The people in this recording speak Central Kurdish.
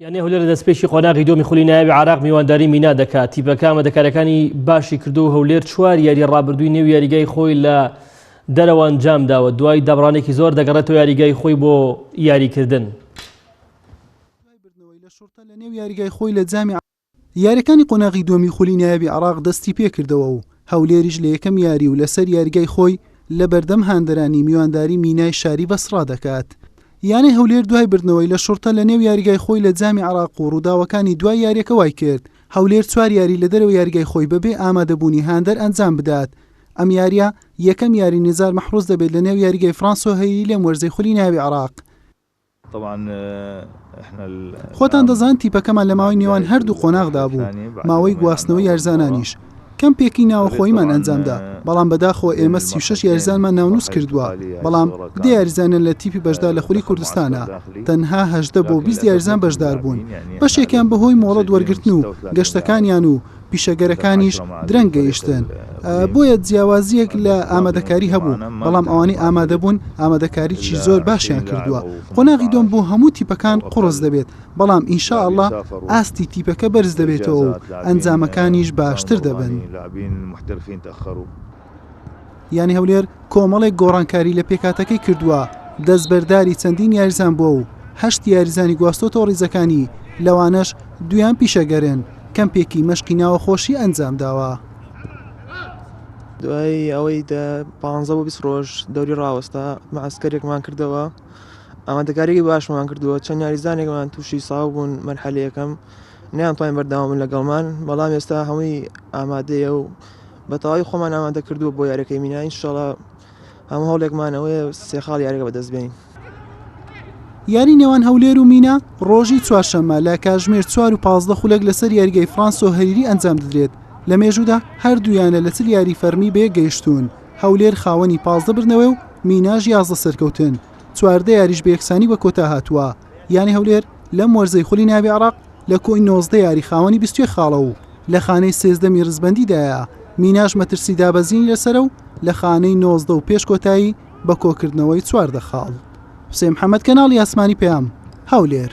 یانە هولەر لە دەستپێکی قۆناغی دۆمی خولی ناوی عراق میوانداری مینا دەکات تیپەکامە دەکارەکانی باشی کردو و هەولێر چوار یاری ڕابردووی نێو یاریگای خۆی لە دەرەوە ئەنجام داوە دوای دابڕانێکی زۆر دەگەڕێتەوە یاریگای خۆی بۆ یاریکردن لە نێو یاریگای خۆی لە جامی یارییەکانی قۆناغی دووەمی خولی نایابی عێراق دەستیپێکردەوە و هەولێریش لە یەکەم یاری و لەسەر یاریگای خۆی لەبەردەم هاندەرانی میوانداری مینای شاری بەسڕا دەکات. یانەی هەولێر دوای بردنەوەی لە شوڕتە لەنێو یاریگای خۆی لە جامی عێراق و رووداوەکانی دوای یارییەکە وایکرد هەولێر چوار یاری لە دەرەوەی یاریگای خۆی بەبێ ئامادەبوونی هاندەر ئەنجام بدات. ئەم یارییە یەکەم یاری نیزار مەحروز دەبێت لەنێو یاریگای فرانسۆهەیری لەم وەرزەی خولی نایابی عێراق. خۆتان دەزان تیپەکەمان لە ماوەی نێوان هەردوو قۆناغدا بوو، ماوەی گواستنەوەی یارزانانیش کەمپێکی ناوەخۆییمان ئەنجامدا، بەڵام بەداخەوە ئێمە سی و شەش یاریزانمان ناونووس کردووە، بەڵام دە یاریزانیان لە تیپی بەشدار لە خولی کوردستانە، تەنها هەژدە بۆ بیست یاریزان بەشداربوون، بەشێکیان بەهۆی مۆڵەت وەرگرتن و گەشتەکانیان و پیشەگەرەکانیش درەنگ گەیشتن، بۆیە جیاوازییەک لە ئامادەکاری هەبوو، بەڵام ئەوانەی ئامادەبوون ئامادەکاریی زۆر باشیان کردووە، قۆناغی دووەم بۆ هەموو تیپەکان قوڕس دەبێت، بەڵام ان شاء اللە ئاستی تیپەکە بەرزدەبێتەوە و ئەنجامەکانیش باشتر دەبن. یانەی هەولێر کۆمەڵێک گۆڕانکاری لە پێکاتەکەی کردووە دەستبەرداری چەندین یاریزان بووە و هەشت یاریزانی گواستۆتەوە ڕیزەکانی لەوانەش دویان پیشەگەرن کەم پێکی مەشقی ناوە خۆشی ئەنجام داوە. دوای ئەوەی دە پ بۆ 20 ڕۆژ دەوری ڕاوەستا مەعسکەرێکمان کردەوە ئامادەکاریی باشمان کردووە چەند یاریزانێکمان تووشی ساو بوون مەرحەلەکەم نیان توانین بەرداوامن لەگەڵمان بەڵام ئێستا هەمووی ئامادەیە و بە تەواوی خۆمان ئامادە کردووە بۆ یاریەکەی مینا ئینشاڵا هەموو هەوڵێکمان ئەوەیە سێ خاڵ یاریەکە بەدەست بێنین. یاری نێوان هەولێر و مینا ڕۆژی چوارشەممە لە کاژمێر چوار و پازدە خولەک لەسەر یاریگای فرانسۆ هەریری ئەنجام دەدرێت لە مێژوودا هەردوو یانە لە چل یاری فەرمی بەیەک گەیشتوون هەولێر خاوەنی پازدە بردنەوەی و میناش یازدە سەرکەوتن چواردە یاریش بە یەکسانی بە کۆتا هاتووە یانی هەولێر لەم وەرزەی خولی ناوی عێراق لە کۆی نۆزدە یاری خاوەنی بیست و یەک خاڵە و لە خانەی سێزدەمی ریزبەندیدایە، میناش مەترسی دابەزینی لەسەرە و لە خانەی نۆزدە و پێش کۆتایی بە کۆکردنەوەی چواردە خاڵ. حوسێن محەمەد کەناڵی ئاسمانی پەیام، هەولێر.